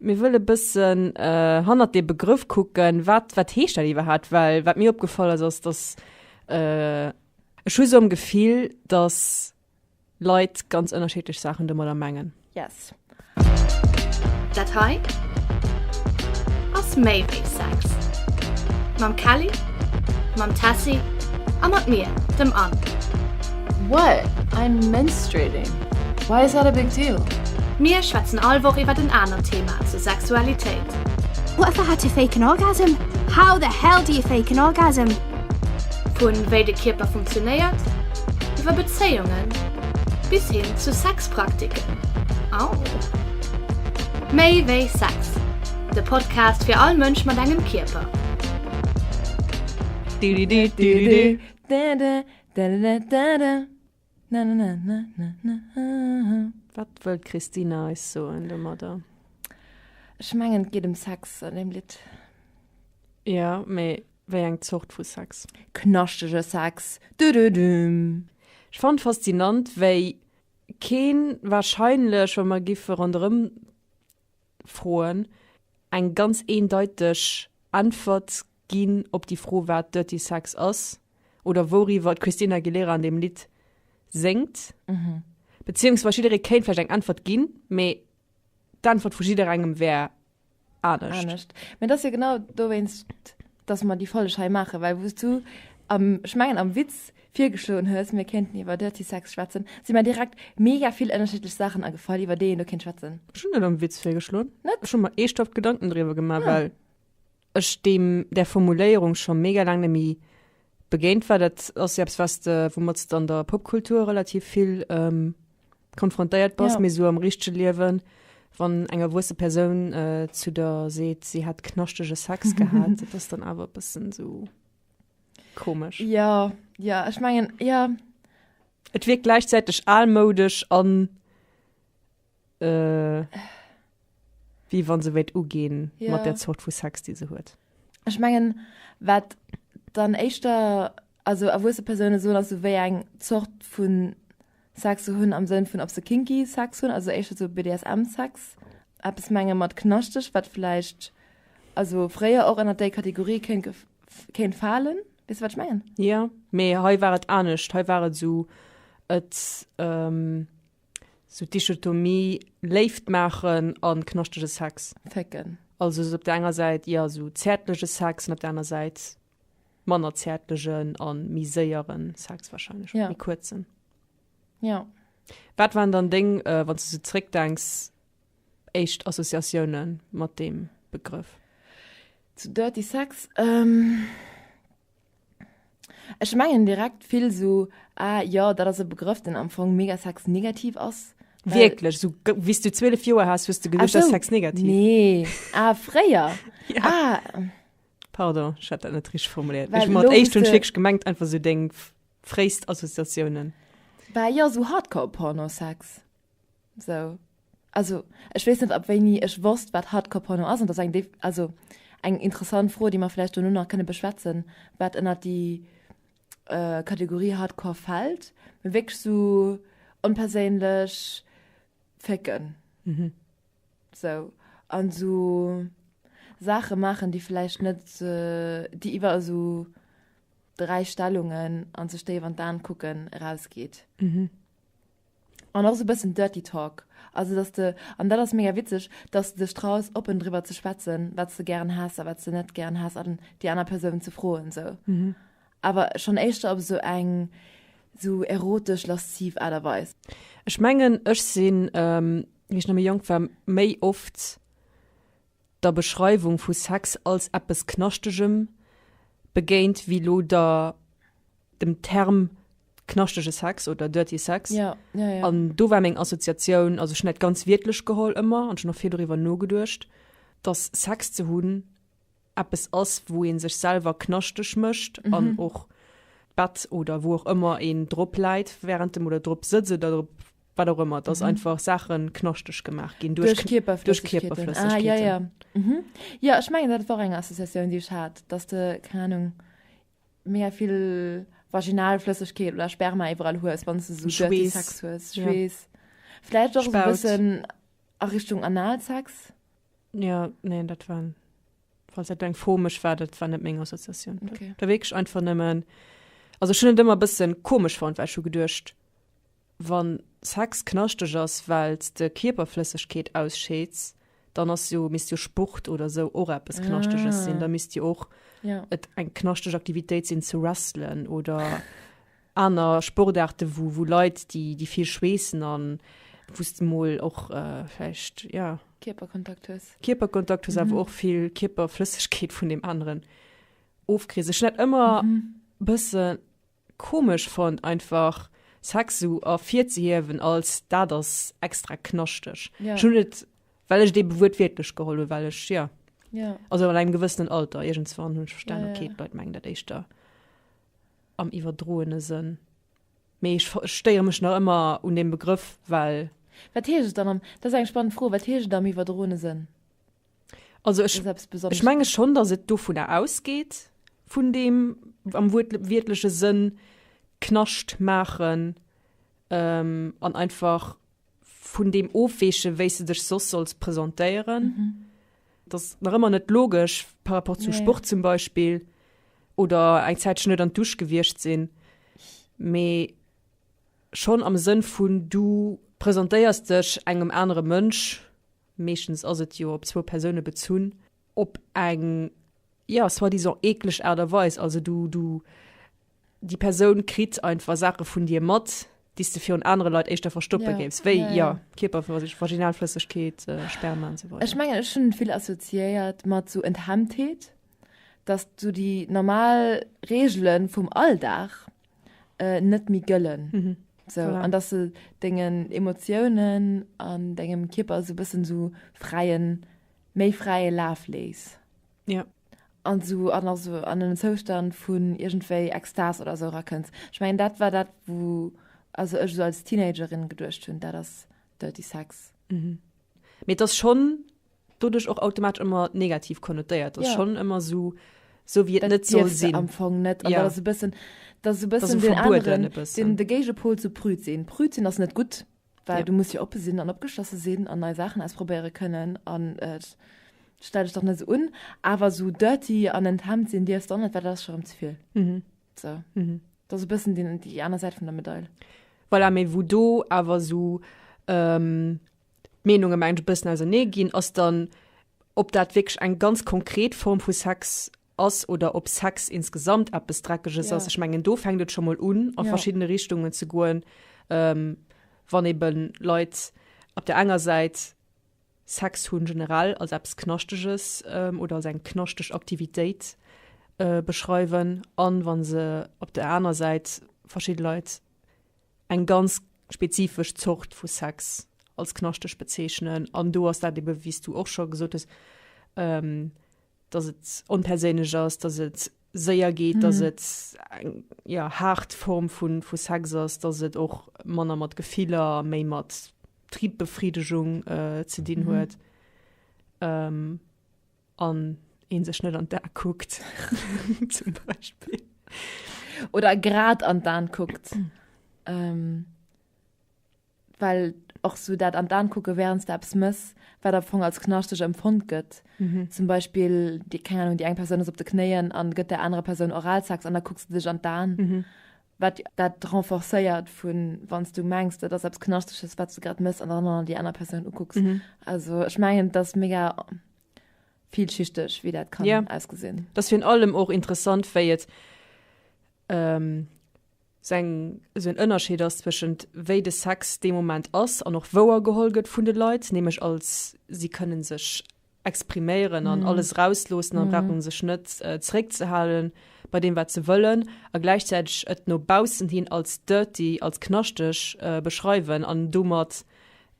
Mir wëllen e bëssen hannert dee Begrëff kucken, wat, wat heescht dat iwwerhaapt? Well wat mir opgefall ass, ass, dass ech hu sou am Gefill, dass Leit ganz ënnerschiddlech Saachen domadder mengen. Yes. Dat hei ass méi wéi Sex. Mam Kelly, mam Tessy a mat mir, dem Anne. What? I'm menstruating. Why is that a big deal? Mir schwätzen all Woch iwwert en anert Thema zur Sexualitéit. What the hell do you fake an orgasm? How the hell do you fake an orgasm? Vu wéi de Kierper funktionéiert, iwwer Bezéiungen bis hin zu Sexpraktiken. Au! Méi wéi Sex, de Podcast fir all Mënsch mat engem Kierper. Dadadadada, nananananana. Wat wëll d'Christine eis soen domadder? Ech mengen, et geet ëm Sex an deem Lidd. Jo, mee wéi eng Zort vu Sex? Knaschtege Sex. Dödödüm. Ech fannen faszinant, wéi keen warscheinlech, wa mer giffe ronderëm froen, eng ganz eendeiteg Äntwert ginn op déi Fro wat Dirty Sex ass oder wouriwwer d'Christina Aguilera an deem Lidd séngt. Beziéungsweis jidderee kéint vläicht eng Äntwert ginn, mee d'Äntwert vu jidderengem wär anescht. Anescht. Mee et ass jo genau dowéinst, datt mer déi Folleg hei maachen, well wou s du am, ech mengen am Witz virgeschloen hues, mir kéinten iwwer Dirty Sex schwätzen, si mer direkt mega vill ënnerschiddlech Saachen agefall, iwwer déi een do kéint schwätzen. Ech hunn net am Witz virgeschloen. Net? Ech hu mer eeschthaft Gedanken driwwer gemaach, well. ech deem där Formuléierung scho mega laang neméi begéint war. Dat ass jo eppes was de woumads de an der Popkultur relativ vill konfrontéiert bass, mee esou am richtege Liewen, wann eng erwuesse Persoun zu der seet, si hätt knaschtege Sex gehat, dat ass dann awer e bëssen esou komesch. Jo, jo, ech mengen, jo. Et wierkt gläichzäiteg almoudesch an. Äh, wéi wann se wéilt uginn ja. mat der Zort vu Sex, déi se huet. Ech mengen wat dann éischter also erwuesse Persoune so ass wéi eng Zort vun Sex ze hunn am Sënn vun op se kinky Sex hunn, also éischter zu BDSM Sex Apps menge mat knaschteg, wat vläicht also fréier och ënner déi Kategorie kéint kéint falen bis wat schmengen. Ja méi hei waret anecht hei waret sou et ähm, Sou d'Dichotomie Léift maachen a knaschtege Sex. Fécken. Also sou op der enger Säit, jo, sou zäertlege Sex an op der aner Säit manner zäertlegen a méi séiere Sex warscheinlech, oder méi kuerzen. Jo. Wat waren dann deng, wann s de sou zréckdenks, éischt Associatioune mat deem Begrëff? Zu Dirty Sex? Ech mengen direkt vill sou, ah jo, dat ass e Begrëff, deen am Fong mega sexnegativ ass. Well, Wierklech, sou ge- wéi s du 12 Joer has, hues de ah, geduecht, dat ass sou, sexnegativ. Nee, ah, fréier. Ja. Ah, Pardon, ech hat dat net richteg formuléiert. Well Ech mat elo éischt hunn ech wüsste- wierklech gemengt einfach sou deng f- fréist Associatiounen. bah, jo, sou Hardcore-Pornosex. Sou. Also, ech weess net, ab wéini ech wosst, wat Hardcore-Porno ass. An dat ass eng, also eng interessant Fro, déi mer vläicht dono nach kënne beschwätzen, wat ënnert déi Kategorie Hardcore fält. Mee wierklech sou onperséinlech fécken. Sou. An sou Saache maachen, déi vläicht net, déi iwwer esou dräi Stellungen an sech déif an d'Aen kucken erausgeet. An och sou bëssen dirty talk, also dass de, an dat ass mega witzeg, dass de dech traus oppen driwwer ze schwätzen wat s de gären häss a wat s de net gären häss an déi aner Persoun ze froen sou. Awer schonn éischter op sou eng sou erotesch lasziv Aart a Weis. Ech mengen ech sinn wéi ech nach méi jonk war méi oft der Beschreiwung vu Sex als eppes Knaschtegem begéint wéi lo der dem Term knaschtege Sex oder dirty Sex. Ja, ja, ja. An do war meng Assoziatioun, also schon dat ganz wiertlech geholl ëmmer an schon noch vill doriwwer nogeduercht, dass Sex ze hunn eppes ass, wou een sech selwer knaschteg mécht mhm. an och Bett oder wo och ëmmer een drop läit während dem oder drop sëtzt oder drop wat auch immer das mhm. einfach Sachen knaschteg gemacht gehen durch, durch Kierper durch Kierper ah, ja, ja. Mhm. ja ich meine dat war eng Assoziatioun die ich hat dass de keine Ahnung mega vill vaginal Flëssigkeit oder Sperma iwwerall hues, wann du so Schwees. Sex hues. Ja. Schwees. Ja. Vielleicht auch Spaut. ein bisschen a Richtung Analsex. Ja, nee, dat war falls dat eng Fomesch war, dat war net meng Assoziatioun. Okay. Da wegg einfach nëmmen also schon ëmmer bëssen komisch fand, weil schon gedurcht Wann Sex knaschteg ass wells de Kierperflëssegkeet ausscheeds, dann ass jo misst jo Sport oder sou och eppes knaschteges sinn, da misst jo och et eng knaschteg Aktivitéit sinn ze wrestlen oder aner Sportaarte wou wou Leit déi déi vill schweessen an wous de mol och vläicht ja Kierperkontakt hues Kierperkontakt hues awer och vill Kierperflëssegkeet vun deem aneren ofkriss. Ech sinn dat ëmmer bëssen komesch fonnt einfach Sex sou ervirzehiewen als dat ass extra knaschteg. Ja. Ech hunn et well ech et eebe wuertwiertlech geholl hunn, well ech ja Ja. also an engem gewëssenen Alter iergendswann hunn ech verstan, Ja, ja. okay d'Leit mengen dat éischter am iwwerdroene Sënn. Mee ech ver ech stéiere mech nach ëmmer un deem Begrëff, well. Wat heescht et dann am, dat ass eng spannend Fro, wat heescht et am iwwerdroene Sënn? Also ech, ech menge schon, dass et dovunner ausgeht, vun dem am wiertleche Sënn knascht maachen ähm, an einfach vun dem ofweeche wéi se dech soss solls presentéieren. Mhm. Das nach ëmmer net logesch par rapport zum nee. Sport zum Beispiel oder eng Zäit schon net an Dusch gewircht sinn. Me schon am Sënn vun du presentéiers dech engem anere Mënsch, meeschtens ass et jo op zwou Persoune bezunn, op eng, ja, soi-disant eekleg Aart a Weis, also du, du, déi Persoun kritt einfach Saache vun dir mat, déi s de virun anere Leit éischter verstoppe Ja. géifs, wéi, Ja, ja. ja, Kierperflësseg, Vaginalflëssegkeet, äh, Sperma an sou weider. Ech mengen, ech hunn vill assoziéiert mat sou Enthemmtheet, dass du déi normal Reegelen vum Alldag äh, net méi gëllen. Mhm. So, voilà. An dass du dengen Emotiounen an dengem Kipper so bëssen so fräien, méi fräie Laf lees. Ja. An so an also an den Zoustand vun irgendwéi Extas oder so rakënns. Ich mein dat war dat wo also ech so als Teenagerin geduercht hunn, dat ass Dirty Sex. Mhm. Mir das schon doduerch och automatesch ëmmer negativ konnotéiert ass, schonn ëmmer esou esou wéi et net soll sinn. Am Fong net an dat ass e bëssen, dat ass e bëssen deen aneren, de Géigepol zu prüd sinn. Prüd sinn ass net gutt, well du muss jo oppe sinn an opgeschlosse sinn an nei Saachen ausprobéiere kënnen an et stell dech dach net esou un. Awer esou dirty an enthemmt sinn dierfs de och net, well dat ass scho rëm ze vill. Sou, dat ass e bëssen déi aner Säit vun der Medail. Voilà, mee wou do awer esou. d'Meenunge mengen ech e bëssen ausernee ginn, ass dann, ob dat wierklech eng ganz konkret Form vu Sex ass oder ob Sex insgesamt eppes Dreckeges ass. Ech mengen, do fänkt et scho mol un, a verschiddene Richtungen ze goen, wann ebe Leit op där enger Säit Sex hu generell als eppes Knaschteges oder als eng knaschteg Aktivitéit beschreiwen an wa se op där aner Säit verschidde Leit, eng ganz spezifesch Zort vu Sex als knaschteg bezeechnen. An do ass dat ebe wéi s du och scho gesot hues, ähm, datt et onperséinlech ass, datt et séier geet, datt et eng ja, haart Form vu vu Sex ass, datt et och manner mat Gefiller a méi mat Tribbefriddegung äh, ze dinn huet. Ähm. An een sech net an d'Aa kuckt zum Beispill. Oder grad an d'Aan kuckt. ähm, well och so dat an d'Aan kucke während der Apps mëss, wat am Fong als knaschteg empfond gëtt. Mhm. Zum Beispiel, die, keine Ahnung, die eng Person ass op de Knéien an gëtt der anerer Person Oralsex an da kucks du dech an d'Aan. Mhm. wat dat renforcéiert vun wann s du mengs dat ass eppes knaschteges wat s du grad mëss an dann an déi aner Persoun ukucks mhm. also ech mengen dat mega vielschichteg wie dat kann ja. ausgesinn das fir allem och interessant wéi et ähm, seng so en ënnerscheed ass zwschend wéi de Sex de moment ass an och wouer geholget vun de Leiit nämech als sie kënnen sech expriméieren an alles rausloossen an brauche sech net zeréckzehalen bei deem wat se wëllen a gläichzäiteg et no baussen hin als dirty, als knaschteg beschreiwen an domat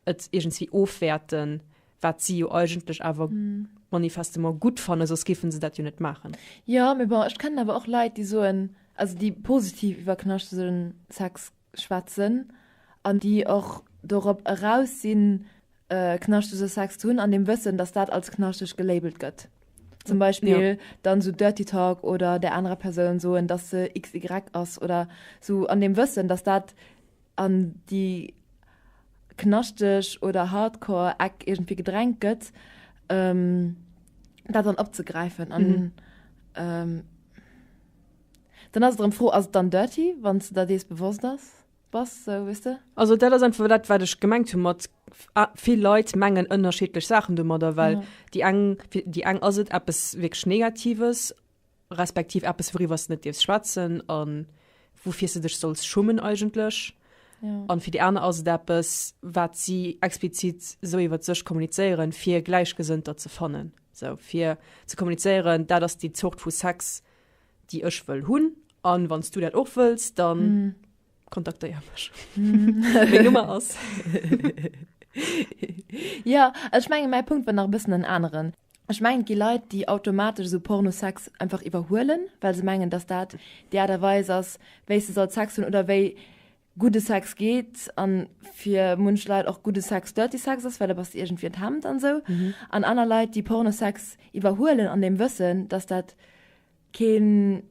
et iergendswéi ofwäerten, wat si jo eigentlech awer manifestement gutt fannen, soss géife se dat jo net maachen. Jo, mee bon, ech kennen awer och Leit, déi soen, also déi positiv iwwer knaschtegen Sex schwätzen an déi och dorop eraus sinn, knaschtege Sex ze hunn, an dem Wëssen, datt dat als knaschteg gelabelt gëtt. Zum Beispill dann esou Dirty Talk oder där anerer Persoun soen, datt se XY ass oder esou, an dem Wëssen, datt dat an déi knaschteg oder hardcore Eck iergendwéi gedrängt gëtt, dat dann opzegräifen an. Dann ass et erëm d'Fro, Ass et dann dirty, wann s de der dees bewosst ass, bass? Sou, weess de? Also dat ass einfach dat, wat ech gemengt hu mat vill Leit mengen ënnerschiddlech Saachen domadder, well déi eng, fir déi eng ass et eppes wierklech Negatives, respektiv eppes, wouriwwer s de net dierfs schwätzen a woufir s de dech solls schummen eigentlech. A fir déi aner ass et eppes, wat si explizit sou iwwer sech kommunizéieren, fir Gläichgesënnter ze fannen, sou fir ze kommunizéieren, dat ass déi Zort vu Sex, déi ech wëll hunn. An wann s du dat och wëlls, dann mm. kontaktéier mech. Mm. Nummer ass. ja, ech menge mäi Punkt war nach bëssen en aneren. Ech mengen gi Leiit, déi automatesch so Pornosex einfach iwwerhuelen, well se mengen, dass dat Di Aderweis ass, wéi se soll Sex hunn oder wéi gudde Sex geet an fir munch Leit och gudde Sex dirty Sex ass, well et ass iergendwéi en Hemd an esou, an aner Leit déi Pornosex iwwerhuelen an dem Wëssen, dass dat kee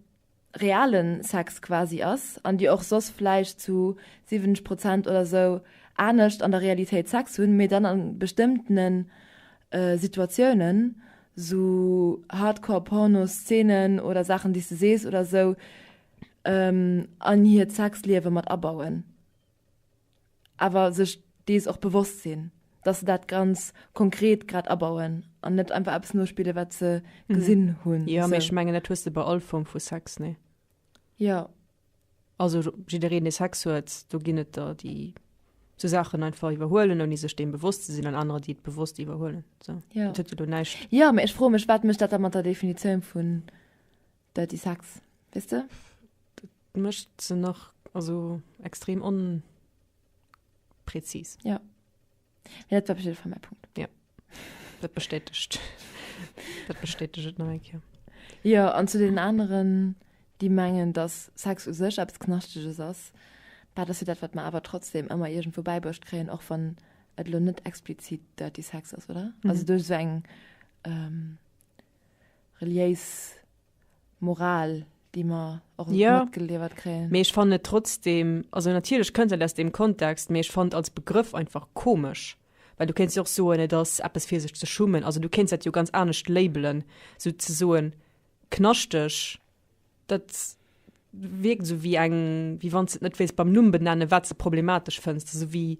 reale Sex quasi ass an déi och soss vläicht zu 70 Prozent oder esou anescht an der Realitéit Sex hunn, mee dann a bestëmmtene Situatiounen esou Hardcore-Porno-Szenen oder Saachen déi s de sees oder esou, an hiert Sexliewe mat abauen, awer sech dees och bewosst sinn, dass se dat ganz konkret grad abauen an net einfach eppes nospille wat se gesinn hunn. Jo, mee ech mengen dat hues de bei all Form vu Sex, nee? Jo. Also jiddereen dee Sex huet, do ginn et der déi sou Saachen einfach iwwerhuelen ouni sech deem bewosst ze sinn an anerer déi et bewosst iwwerhuelen, sou. Jo. Dat huet jo do näischt. Jo, mee ech froe mech wat mécht dat da mat der Definitioun vun Dirty Sex, weess de? Dat mécht se nach, also extrem onpräzis. Ja. Mee dat war op jidde Fall mäi Punkt. Ja. Dat bestätegt. dat bestätegt et nach eng Kéier. Jo, an zu deenen aneren, déi mengen, dass Sex u sech eppes Knaschteges ass, dat ass jo dat, wat mer awer trotzdem ëmmer iergendwou bäibruecht kréien, och wann et elo net explizit Dirty Sex ass, oder? Also duerch esou eng ähm, reliéis Moral, déi mer och matgeliwwert kréien. Jo, mee ech fannen et trotzdem, also natierlech kënnt dat aus deem Kontext, mee ech fannen et als Begrëff einfach komesch, well du kéints jo och soen, et ass eppes fir sech ze schummen. Also du kéints dat jo ganz anescht labelen, sou ze soen knaschteg, dat wierkt esou wéi eng, wéi wann s de et net wéilt beim Numm benennen, wat s de problematesch fënns, esou wéi,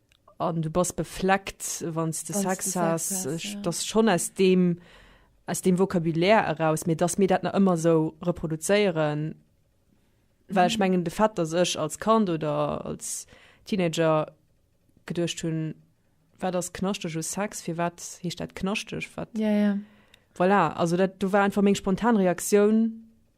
an du bass befleckt wann de Sex has das schon aus dem aus dem Vokabulär eraus mir dass mir dat na ëmmer so reproduzéieren well ich mhm. mengen de Fett dass ech als Kand oder als Teenager gedurcht hun war das knaschteg u Sex fir wat hicht dat knaschteg wat ja, ja. voilà also dat du war einfach még spontan Reaktion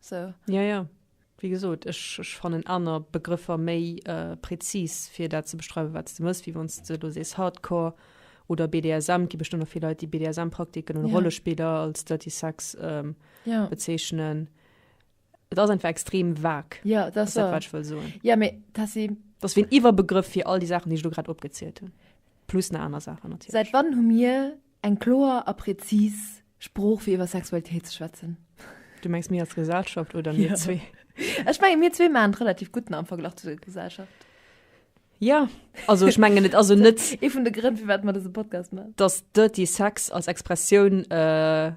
So. Ja, ja. Wéi gesot, ech, ech fannen aner Begrëffer méi prezis, fir dat ze beschreiwen, wat s de mëss, wéi wann s de elo sees Hardcore oder BDSM. Et gi bestëmmt och vill Leit, déi BDSM-Praktiken oder Ja. Rollespiller als Dirty Sex ähm, Ja. bezeechnen. Et ass einfach extrem vag, Ja, das ass dat, war. wat ech wëll soen. Ja, mee dat si Dat ass wéi en Iwwerbegrëff fir all déi Saachen, déi ech elo grad opgezielt hunn. Plus nach aner Saachen natierlech. Säit wann hu mir eng kloer a präzis Sprooch fir iwwer Sexualitéit ze schwätzen. Du mengs mir als Gesellschaft oder mir zwee? Ech menge mir zwee man relativ gutten am Verglach zu der Gesellschaft. Ja also ech mengen et also net ee vun de Grënn firwat mer dëse Podcast man. Datt Dirty Sex als Expressioun äh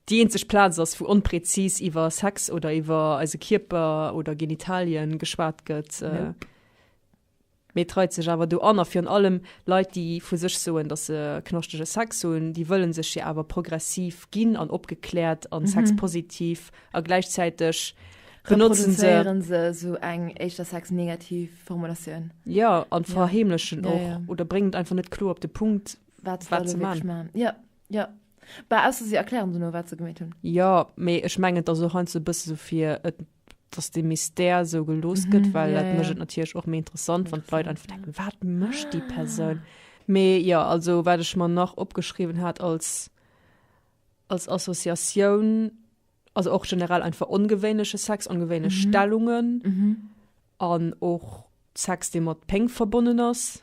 déi eenzeg Plaz ass wou onpräzis iwwer Sex oder iwwer eise Kierper oder Genitalien geschwat gëtt äh. Nope. Mee et reit sech awer do an, a virun allem Leit, déi vu sech soen, datt se knaschtege Sex hunn, déi wëlle sech jo awer progressiv ginn an opgekläert a sexpositiv, a gläichzäiteg benotze se. Reproduzéiere se esou eng éischter sexnegativ Formulatioun. Jo, a verheemlechen och oder bréngen et einfach net kloer op de Punkt, wat se wëlle wierklech maachen. Jo, jo. Bah, ausser se erklären dono, wat se gemeet hunn. Jo, mee ech mengen, et ass och heiansdo e bësse sou, fir et dass de Mystère esou gelooss gëtt, well dat mécht et natierlech och méi interessant, wann d'Leit einfach denken, wat mécht déi Persoun? Mee jo, also wat ech mer nach opgeschriwwen hat als, als Associatioun, also och generell einfach ongewéinleche Sex, ongewéinlech Stellungen an och Sex, dee mat Péng verbonnen ass.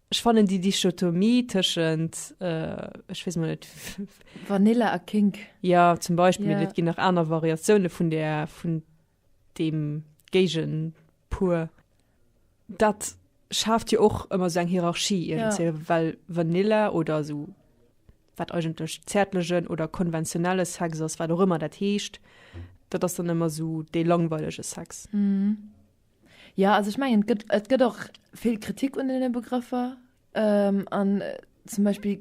Ech fannen déi Dichotomie tëschent, ech weess mol net. Vanilla a Kink. Ja, zum Beispill. Et ginn nach aner Variatioune vun där, vun deem Géigenpuer. Dat schaaft jo och ëmmer sou eng Hierarchie iergendwéi, well Vanilla oder sou, wat eigentlech zäertlegen oder konventionelle Sex ass, wat och ëmmer dat heescht, dat ass dann ëmmer sou dee langweilege Sex. Jo, also ech mengen et gëtt, et gëtt och vill Kritik un deene Begrëffer. Ähm, an zum Beispill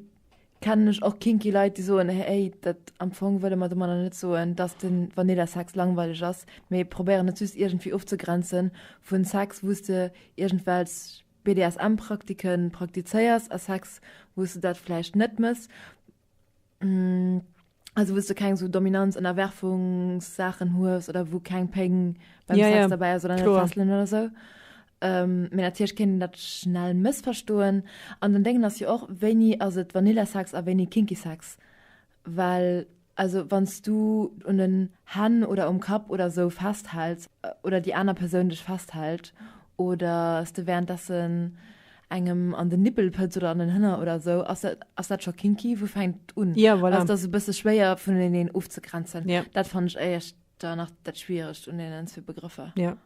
kennen ech och kinky Leit, déi soen, hey, dat am Fong wëlle mer domadder net soen, dass de Vanilla-Sex langweileg ass, mee probéieren et just iergendwéi ofzegrenze vu Sex, wou s de iergendwelch BDSM-Praktiken praktizéiers, a Sex, wou s de dat vläicht net mëss. Mm, also wou s du keng so Dominanz Ënnerwerfungssachen hues oder wou keng Péng beim Ja, Sex ja, dabei ass oder net kloer. fesseln oder so. Ähm, mee natierlech kéint een dat schnell mëssverstoen. An den Déngen ass jo och, wéini ass et Vanillesex a wéini kinky Sex? Well also wann s du un den Hänn oder um Kapp oder sou festhäls oder déi aner Persoun dech festhält Oder s de währenddessen engem an den Nippel pëtz oder an den Hënner oder esou? Ass dat, ass dat scho kinky? Wou fänkt et un? Ja, voilà. Ass dat e bësse schwéier vuneneen ofzegrenzen? Ja. Dat fannen ech éischter nach dat Schwieregt un deenen zwee Begrëffer. Ja.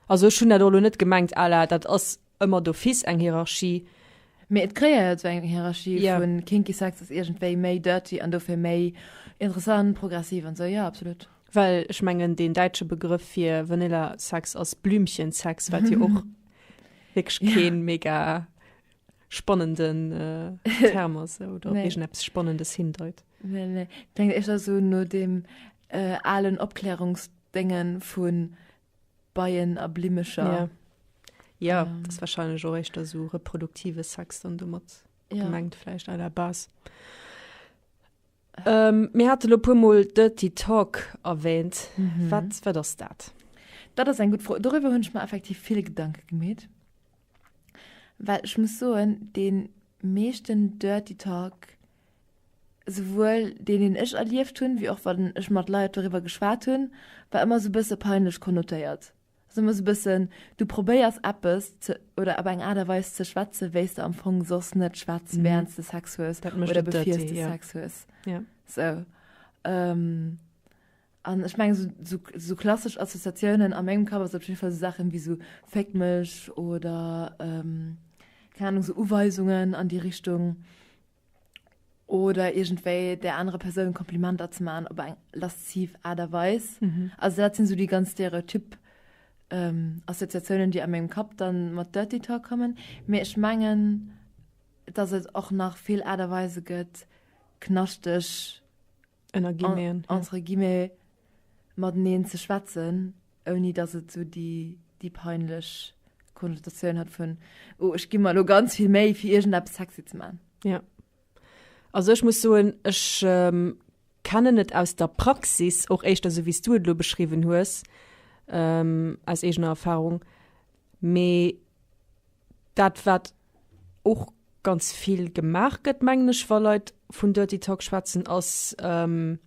Also ech hunn dat och elo net gemengt à la dat ass ëmmer d'office eng Hierarchie. Mee et kreéiert sou eng Hierarchie Ja. vun kinky Sex ass iergendwéi méi dirty an dofir méi interessant, progressiv an esou. Jo, absolut. Well ech mengen, deen däitsche Begrëff fir Vanilla-Sex ass Blümchen-Sex, wat jo och wierklech kee mega spannenden Term ass oder op iergendeppes Spannendes hindeit. Nee, nee. Et kléngt éischter sou no deem alen Opklärungsdéngen vu Beien a Blimmecher. Jo. Jo, et ass warscheinlech och éischter sou reproduktive Sex dann domat gemengt vläicht à la base. Mir hate lo puer mol Dirty Talk erwähnt. Wat wat ass dat? Dat ass eng gutt Fro. Doriwwer hunn ech mer effektiv vill Gedanke gemeet. Well ech muss soen, dee meeschten Dirty Talk, souwuel deen deen ech erlieft hunn, wéi och wann ech mat Leit doriwwer geschwat hunn, war ëmmer esou e bësse peinlech konnotéiert. Sou muss e bëssen, du probéiers eppes ze oder op eng Aart a Weis ze schwätzen, wéi s de am Fong soss net schwätz, wärend s de Sex hues oder bevir s de Sex hues. Sou. An ech mengen, sou, sou klassesch Associatiounen a mengem Kapp ass op jiddwer Fall sou Saachen wéi sou Féck mech oder, keng Ahnung, sou Uweisungen an déi Richtung. oder irgendwéi der anere Persoun Komplimenter ze man op eng lasziv Aart a Weis. Mhm. Also dat sinn so déi ganz Stereotyp ähm, Assoziatiounen, déi a mengem Kapp dann mat Dirty Talk kommen. Mee ech mengen, dass et och nach vill Aart a Weise gëtt, knaschteg ënner Guillemeten, en, entre guillemets, mateneen ze schwätzen, ouni datt et esou déi, déi peinlech Konnotatioun huet vun, oh, ech gi mer elo ganz vill Méi, fir iergendeppes sexy ze man. Ja. Also ech muss soen, ech ähm, kennen et aus der Praxis och éischter esou, wéi s du et elo beschriwwen hues, ähm, aus eegener Erfahrung. Mee dat, wat och ganz vill gemaach gëtt mengen ech, wa Leit vun Dirty Talk schwätzen, ass ähm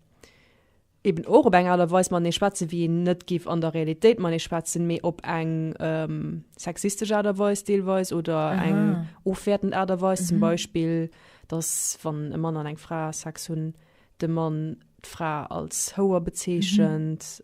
eben och op eng Aart a Weis matenee schwätzen, wéi een net giff an der Realitéit matenee schwätzen, mee op eng ähm sexistesch Aart a Weis deelweis oder eng ofwäertend Aart a Weis. Zum Beispill, dass wann e Mann an eng Fra Sex hunn, de Mann d'Fra als Houer bezeechent.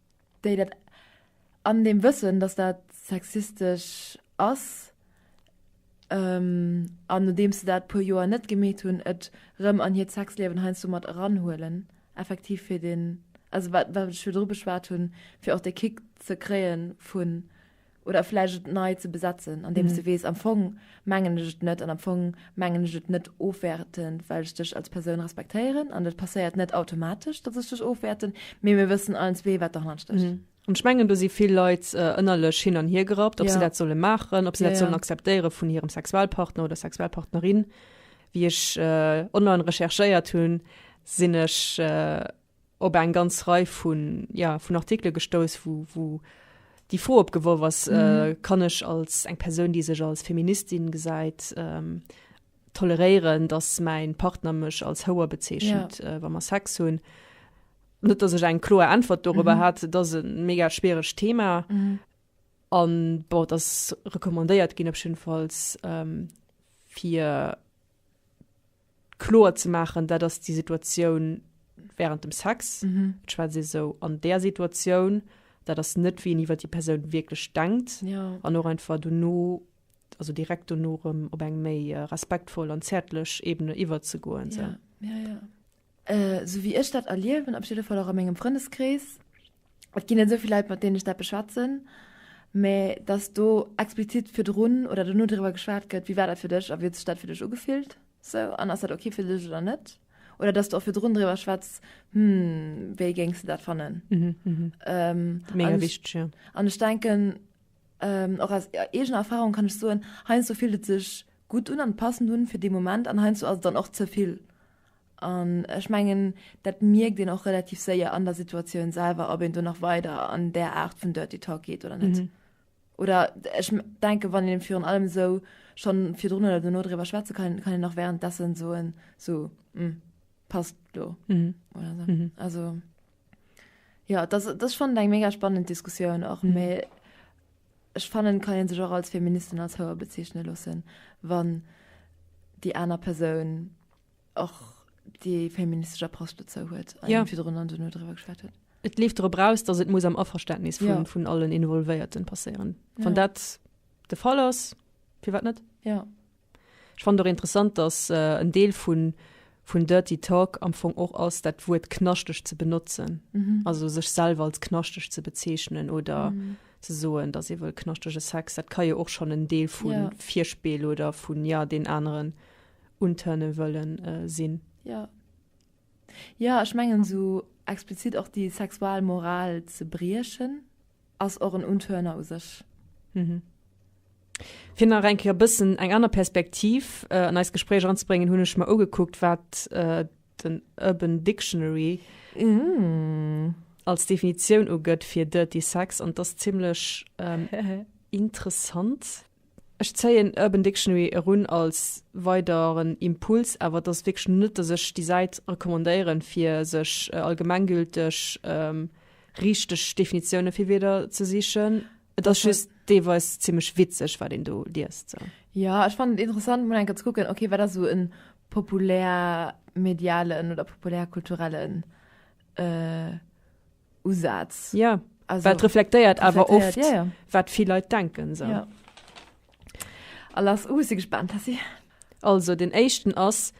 déi dat an deem Wëssen, dass dat sexistesch ass, an nodeems se dat e puer Joer net gemeet hunn, et erëm an hiert Sexliewen heiansdo mat eranhuelen, effektiv fir deen, also wat ech virdru beschwat hunn, fir och dee Kick ze kréie vu, oder vläicht et nei ze besetzen, andeems mhm. du wees am Fong mengen ech et net an am Fong mengen ech et net ofwerten, well ech dech als Persoun respektéieren an dat passéiert net automatisch, dat ech dech ofwerten, mé mir wëssen allen zwee wat der hanst. Mhm. Und ich mengen, du si vill Leit äh, ënnerlech hin an hier gerappt, ob ja. se dat solle machen, ob se ja, dat sollen ja. akzeptéiere vun hirem Sexualpartner oder Sexualpartnerin. Wie ech äh, online recherchéiert hunn, sinn ech äh, op eng ganz Rei vun, jo, vun Artikele gestouss, wou, wou déi Fro opgeworf ass, Kann ech als eng Persoun, déi sech als Feministin gesäit, toleréieren, datt mäi Partner mech als Houer bezeechent, wa mer Sex hunn? Net datt ech eng kloer Äntwert dorobber hat. Et ass e mega schwieregt Thema an, bon, et ass recommandéiert ginn op jiddefalls, fir. kloer ze maachen, dat ass déi Situatioun während dem Sex, et schwätzt ee sou an där Situatioun, dat ass net wéi een iwwer déi Persoun wierklech denkt Ja. an och einfach dono, also direkt dono erëm op eng méi äh, respektvoll an zäertlech Ebene iwwerzegoen. Ja, ja, ja. Äh, sou wéi ech dat erliewen, op jidde Fall och a mengem Frëndeskrees, Et ginn net esou vill Leit, mat deenen ech dat beschwätzen. Mä datt do explizit virdrun oder dono driwwer geschwat gëtt, wéi war dat fir dech a wéi huet sech dat fir dech ugefillt esou an ass dat ok fir dech oder net? Oder datt s de och virdrun driwwer schwätz, hm, wéi géings de dat fannen? Mega wichteg, jo. An ech denken, och aus eegener Erfahrung kann ech soen, heiansdo fillt et sech gutt un an passend un fir dee Moment an heiansdo ass et dann och ze vill. An ech mengen, dat mierkt een och relativ séier an der Situatioun selwer, ob een do nach weider an där Aart vun Dirty Talk geet oder net. Mhm. Oder ech denke, wann een virun allem esou schonn virdrun oder dono driwwer schwätze kann, kann een nach währenddessen soen, so, mm, passt do. Mhm. Oder so. Mhm. Also, ja, das, das ist schon eng mega spannend Diskussioun och mé ech fannen kann een sech och als Feministin als Hauer bezeichne lossen, wann déi aner Persoun och déi feministesch Approche dozou huet a ja. virdrun an duno drwer geschwert huet. Et leeft drop aus, datt et muss am Averständnis vun, ja. vun allen Involvéierten passéieren. Wann ja. dat de Fall ass, fir wat net? Ja. Ech fand doch interessant, datt äh, en Deel vun vun Dirty Talk am Fong och ass dat Wuert knaschteg ze benotzen. Mhm. Also sech selwer als knaschteg ze bezeechnen oder mhm. ze soen, datt iwwel knaschtege Sex, dat ka jo och schon en Deel vun ja. Virspeel oder vun ja den aneren un turnen wëllen sinn. Jo jo ech mengen esou explizit och déi sexual Moral ze briechen ass och en unturner u sech. Mhm. Fir nach eng Kéier bëssen eng aner Perspektiv äh, an eist Gespréich anzebréngen, hunn ech mer ugekuckt, wat äh, den Urban Dictionary mm. als Definitioun ugëtt fir Dirty Sex, an das ziemlech ähm, interessant. Ech zéien Urban Dictionary erun als weideren Impuls, awer et ass wierklech net, dass ech déi Säit recommandéieren, fir sech allgemenggülteg richteg Definitioune fir Wierder ze sichen. Et ass just deelweis zimmlech witzeg, wat een do liest. Jo, ech fannen et interessant, mol eng Kéier ze kucken, ok, wat ass esou e populärmedialen oder populärkulturellen. Usaz. Ja, also, well et reflektéiert awer oft, ja, ja. wat vill Leit denken. So. Ja. A lass u si gespannt, Tessi. Also, den éischten ass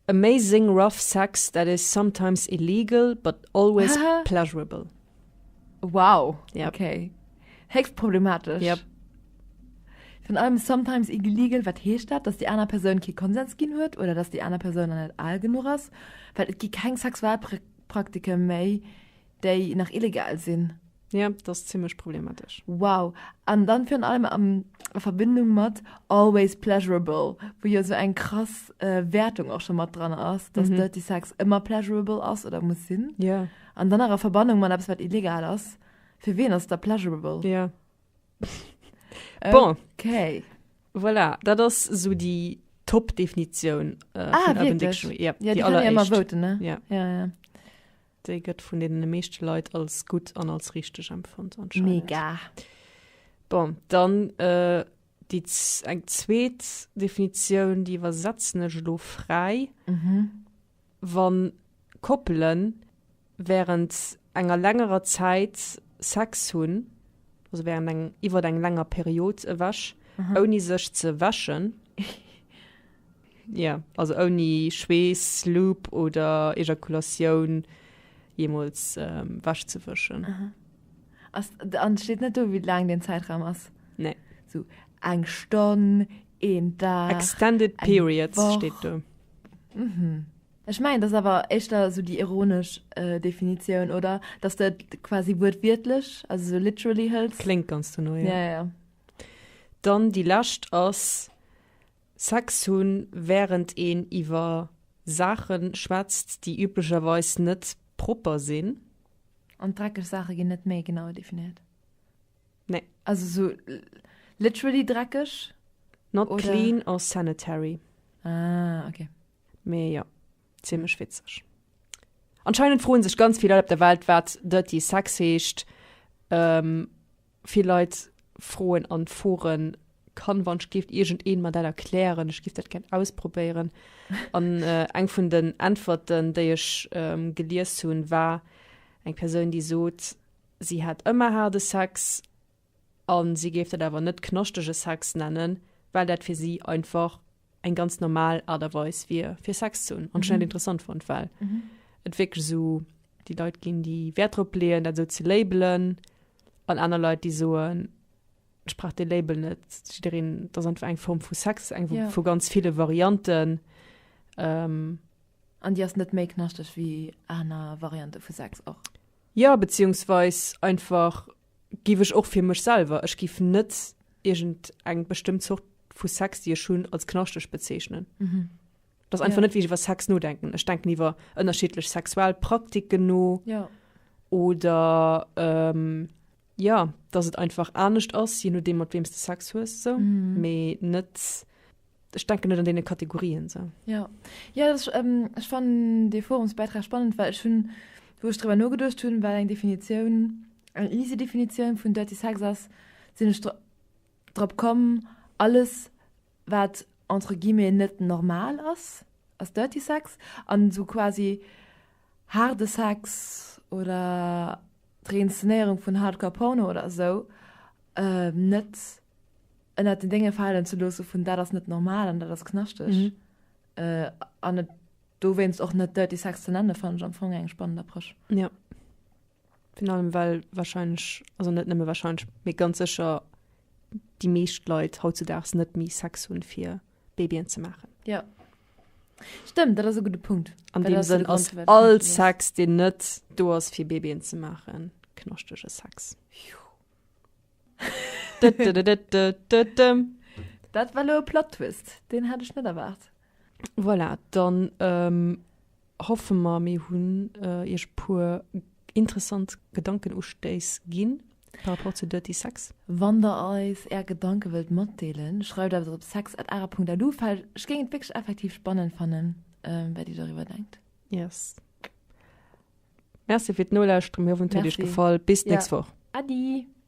Amazing rough sex that is sometimes illegal but always pleasurable. Wow, ja. okay. Héchst problematisch. Ja. Von allem sometimes illegal, wat heescht dat, dass die aner Persoun ki Konsens ginn huet oder dass die aner Persoun an net all genug ass, Well et gi keng Sexualpraktiken Praktike méi, déi nach illegal sinn. Ja, dat ass zimlech problematesch. Wow. An dann virun allem am a Verbindung mat always pleasurable, wou jo sou eng krass Wäertung och scho mat dran ass, dass Dirty Sex ëmmer pleasurable ass oder muss sinn. Ja. An dann nach a Verbannung mat eppes wat illegal ass. Fir ween ass et da pleasurable? Ja. Bon. Okay. Voilà, dat ass so déi Top-Definitioun äh, ah, vun Urban Dictionary. Ja, ja, déi alleréischt. Voten, ne? ja. Ja, ja. Déi gëtt vun den meeschte Leit als gutt an als richteg empfond. Mega. Bon, dann äh, déi eng zweet Definitioun, déi iwwersetzen ech lo fräi. Mhm. Wa Koppele wärend enger längerer Zäit Sex hunn, also wärend eng iwwert eng länger Period ewech, ouni sech ze wäschen, yeah, also ouni Schweess, Lub oder Ejakulatioun jeemools wech ze wëschen. Ass, an et steet net do wéi laang deen Zäitraum ass? Nee. Sou eng Stonn, een Dag, eng Woch? Extended periods steet do. Mhm. Ech mengen, dat ass awer éischter esou déi ironesch äh, Definitioun, oder? Dass du et quasi wuertwiertlech, also so literally hëls. Kléngt ganz duerno, ja. Ja, ja, ja. Dann déi lescht ass Sex hunn, wärend een iwwer Saache schwätzt, déi üblecherweis net propper sinn. An dreckeg Saache ginn net méi genau definéiert. Nee. Also sou literally dreckeg? Not oder? clean or sanitary. Ah, okay. Mee jo, zimlech witzeg. Anscheinend froen sech ganz vill Leit op der Welt wat dirty sex heescht. Ähm, vill Leit froen an Foren, kann wann skift irgend een mat dat erklären, ech gift dat gern ausprobéieren. An äh, eng vun den Äntwerten déi ech ähm, gelies hunn war eng Persoun déi sot, Si hätt ëmmer haarde Sex a si géif dat awer net knaschtege Sex nennen, well dat fir si einfach eng ganz normal Aart a Weis wier, fir Sex ze hunn. An ech hunn dat interessant fonnt, well et wierklech esou déi Leit ginn, déi Wäert drop leeën, dat esou ze labelen, an aner Leit, déi soen, Ech brauch dee Label net. Jiddereen, dat ass einfach eng Form vu Sex, eng vu ganz ville Varianten. An déi ass net méi knaschteg wéi aner Variante vu Sex och? Jo, beziehungsweis einfach giff ech och fir mech selwer, ech giff net irgend eng bestëmmt Zort vu Sex déi ech hunn als knaschteg bezeechnen. Dass einfach net wéi ech iwwer Sex nodenken. Ech denken iwwer ënnerschiddlech sexuell Praktiken no oder ja dass et einfach anescht ass je nodeem mat weems de Sex hues so mm. me net ich denke net an den Kategorien so ja ja das, ähm, ich fand de Forumsbeitrag spannend weil ich hun wo ich drüber no gedurcht hun weil eng Definition eng easy Definition vun dirty Sex ass sinn ich drop kommen alles wat entre guillemets net normal ass, ass dirty sex an esou quasi haarde Sex oder d'Reinszenéierung vun hardcore Porno oder esou net ënnert den Dénge falen ze loosse vun dat ass net normal an dat ass knaschteg an et dowéinst och net dirty sex ze nenne fannen ech am Fong eng spannend Approche. Virun allem well warscheinlech, also net nëmme warscheinlech, mee ganz sécher déi meescht Leit hautzudaags net méi Sex hunn, fir Babyen ze maachen. Ja. Stëmmt, dat ass e gudde Punkt. An Well deem dat ass Sënn de ass Grond, firwat all Konsum ass. Sex, deen net do ass, fir Babyen ze maachen, knaschtege Sex. Dëddedededededdem. Dat war elo e Plot-Twist, deen hat ech net erwaart. Voilà, dann ähm, Hoffe mer mir hunn iech e puer interessant Gedankenustéiss ginn par rapport zu Dirty Sex. Wann der eis är Gedanke wëllt matdeelen, schreift eis op sex@ara.lu well ech géing et wierklech effektiv spannend fannen wat dir doriwwer denkt. Yes. Merci fir d'Nolauschteren, mir hoffen et huet iech Merci. gefall. Bis d'nächst Woch. Äddi!